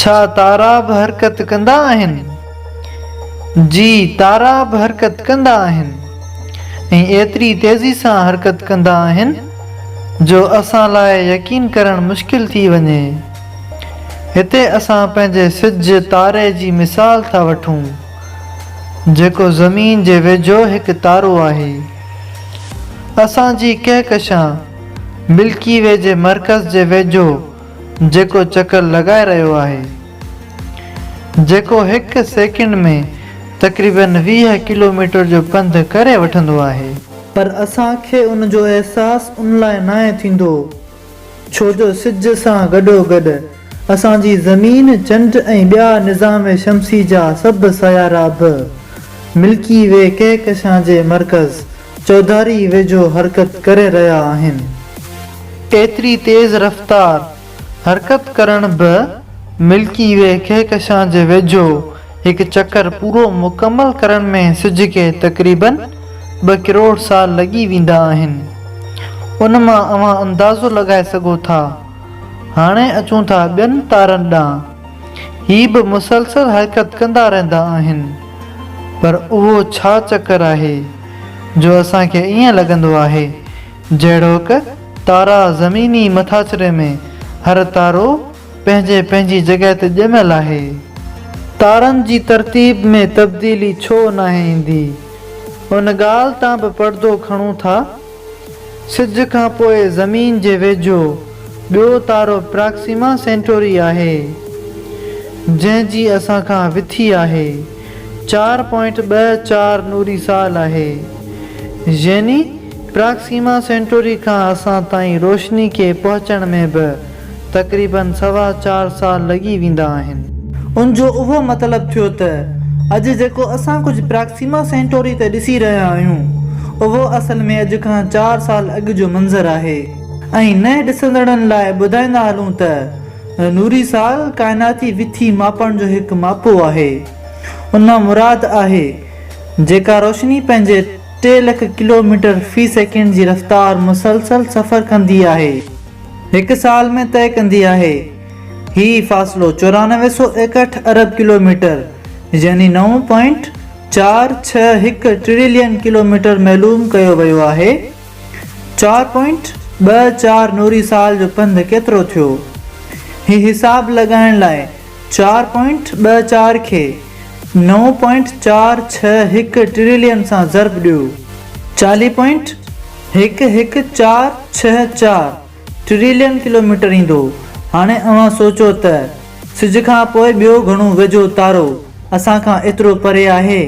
ڇا تارا به حرڪت ڪندا آهن؟ جي تارا به حرڪت ڪندا آهن ۽ ايتري تيزي سان حرڪت ڪندا آهن جو اسان لاء يقين ڪرڻ مشڪل ٿي وڃي. هتي اسان پنهنجي سج تاري جي مثال ٿا وٺون جيڪو زمين جي ويجهو هڪ تارو آهي. اسان جي ڪهڪشان ملڪي وي جي مرڪز جي ويجهو جيڪو چڪر لڳائي رهيو آهي جيڪو هڪ سيڪنڊ ۾ تقريباً ويهه ڪلوميٽر جو پنڌ ڪري وٺندو آهي. پر اسان کي ان جو احساس ان لاء ناهي ٿيندو ڇو جو سج سان گڏوگڏ اسان جي زمين، چنڊ ۽ ٻيا نظام شمسي جا سڀ سيارا به ملڪي وي ڪهڪشان جي مرڪز چوڌاري ويجهو حرڪت ڪري رهيا آهن. ايتري تيز رفتار حرڪت ڪرڻ به ملڪي وي ڪهڪشان جي ويجهو هڪ چڪر پورو مڪمل ڪرڻ ۾ سج کي تقريباً ٻه ڪروڙ سال لڳي ويندا آهن. ان مان اوهان اندازو لڳائي سگهو ٿا. هاڻي اچون ٿا ٻين تارن ڏانهن. هي به مسلسل حرڪت ڪندا رهندا آهن. پر اهو ڇا چڪر آهي جو اسان کي ائين لڳندو آهي جهڙوڪ تارا زميني مٿاڇري ۾ هر تارو پنهنجي پنهنجي جڳهه تي ڄميل آهي؟ تارن جي ترتيب ۾ تبديلي ڇو ناهي ايندي؟ ان ڳالهه تان به پڙدو کڻون ٿا. سج کان پوء زمين جي ويجهو ٻيو تارو پراڪسيما سينٽوري آهي، جنهن جي اسان کان وٿي آهي چار پوائنٽ ٻه چار نوري سال آهي. يعني پراڪسيما سينٽوري کان اسان تائين روشني کي پهچڻ ۾ به تقريباً سوا چار سال لڳي ويندا آهن. ان جو اهو مطلب ٿيو ته اڄ جيڪو اسان ڪجهه پراڪسيما سينٽوري تي ڏسي رهيا آهيون، اهو اصل ۾ اڄ کان چار سال اڳ جو منظر آهي. ۽ نئين ڏسندڙن لاء ٻڌائيندا هلون ته نوري سال ڪائناتي وٿي ماپڻ جو هڪ ماپو آهي. ان مان مراد آهي جيڪا روشني پنهنجي ٽي لک ڪلوميٽر في سيڪنڊ جي رفتار مسلسل سفر ڪندي آهي. هڪ سال ۾ طئي ڪندي آهي. هي فاصلو چورانوي سؤ ايڪهٺ ارب ڪلوميٽر يعني نو پوائنٽ چار ڇهه هڪ ٽريلين ڪلوميٽر معلوم ڪيو ويو آهي. چار پوائنٽ ٻه چار نوري سال جو پنڌ ڪيترو ٿيو؟ هي حساب لڳائڻ لاء چار پوائنٽ ٻه چار کي نو پوائنٽ چار ڇهه هڪ ٽريلين سان ضرب ڏيو. چاليهه پوائنٽ هڪ هڪ چار ڇهه چار ٽريلين ڪلوميٽر ايندو. هاڻي اوهان سوچو ته سج کان پوء ٻيو گهڻو ويجهو تارو اسان کان ايترو پري آهي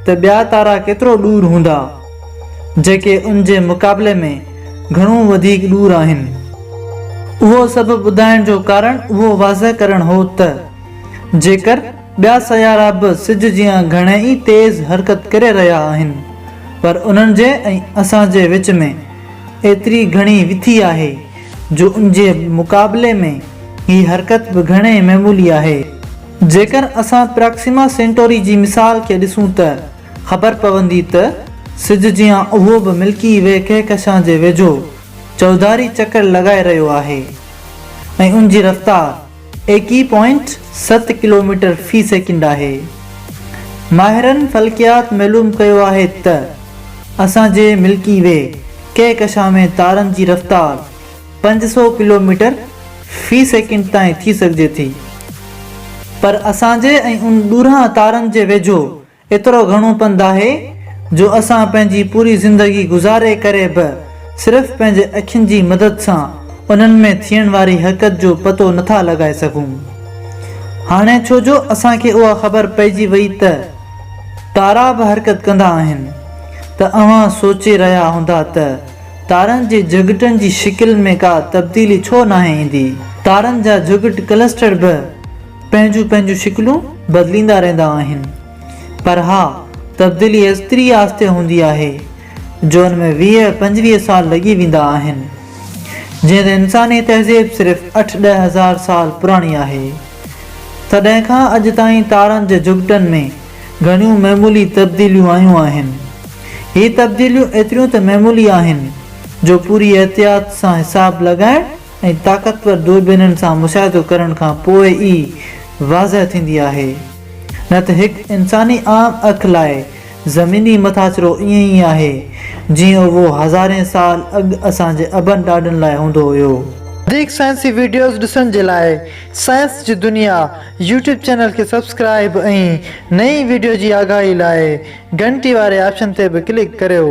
ته ٻيا تارا ڪيترو ڏور هوندا جيڪي ان جي مقابلي ۾ گهڻو وڌيڪ ڏور آهن. اهو سڀ ٻڌائڻ جو ڪارڻ اهو واضح ڪرڻ هو ته جيڪر. ٻيا سيارا به سج جيان گهڻي ئي تيز حرڪت ڪري رهيا آهن، پر انهن جي ۽ اسان جي وچ ۾ ايتري گهڻي وٿي آهي، جو ان جي مقابلي ۾ هي حرڪت به گهڻي معمولي آهي. جيڪر اسان پراڪسيما سينٽوري جي مثال کي ڏسون ته خبر پوندي ته سج جيان اهو به ملڪي وي ڪهڪشان جي ويجهو چوڌاري چڪر لڳائي رهيو آهي ۽ ان جي رفتار، ايڪيهه پوائنٽ ست ڪلوميٽر في سيڪنڊ آهي. ماهرن فلڪيات معلوم ڪيو آهي ته اسان جي ملڪي وي ڪهڪشان ۾ تارن جي رفتار پنج سؤ ڪلوميٽر في سيڪنڊ تائين ٿي سگهجي ٿي پر اسان جي ۽ ان ڏورانهن تارن جي ويجهو ايترو گهڻو پنڌ آهي جو اسان پنهنجي پوري زندگي گذاري ڪري به صرف پنهنجي اکين جي مدد سان انهن ۾ ٿيڻ واري حرڪت جو پتو نٿا لڳائي سگهون. هاڻي ڇو جو اسان کي اها خبر پئجي وئي ته تارا به حرڪت ڪندا آهن ته اوهان سوچي رهيا هوندا ته تارن جي جهڳٽن جي شڪل ۾ ڪا تبديلي ڇو ناهي ايندي؟ تارن جا جهڳٽ ڪلسٽر به پنهنجون پنهنجون شڪلون بدليندا رهندا آهن پر اها تبديلي ايستري آهستي هوندي آهي جو ان ۾ ويهه پنجويهه سال لڳي ويندا آهن جيئن ته انساني تهذيب صرف اٺ ڏهه هزار سال پراڻي آهي تڏهن کان اڄ تائين تارن جي جهڳٽن ۾ گهڻيون معمولي تبديليون آيون آهن هي تبديليون ايتريون ته معمولي آهن جو پوري احتياط سان حساب لڳائڻ ۽ طاقتور دوربينن سان مشاهدو ڪرڻ کان پوء ئي واضح ٿيندي آهي، نه ته هڪ انساني عام اک لاء زميني مٿاڇرو ائين ئي آهي، جيئن اهو هزارين سال اڳ اسان جي ابن ڏاڏن لاء هوندو هيو. وڌيڪ سائنسي وڊيوز ڏسڻ جي لاء سائنس جي دنيا يوٽيوب چينل کي سبسڪرائيب ۽ نئين وڊيو جي آگاهي لاء گهنٽي واري آپشن تي به ڪلڪ ڪريو.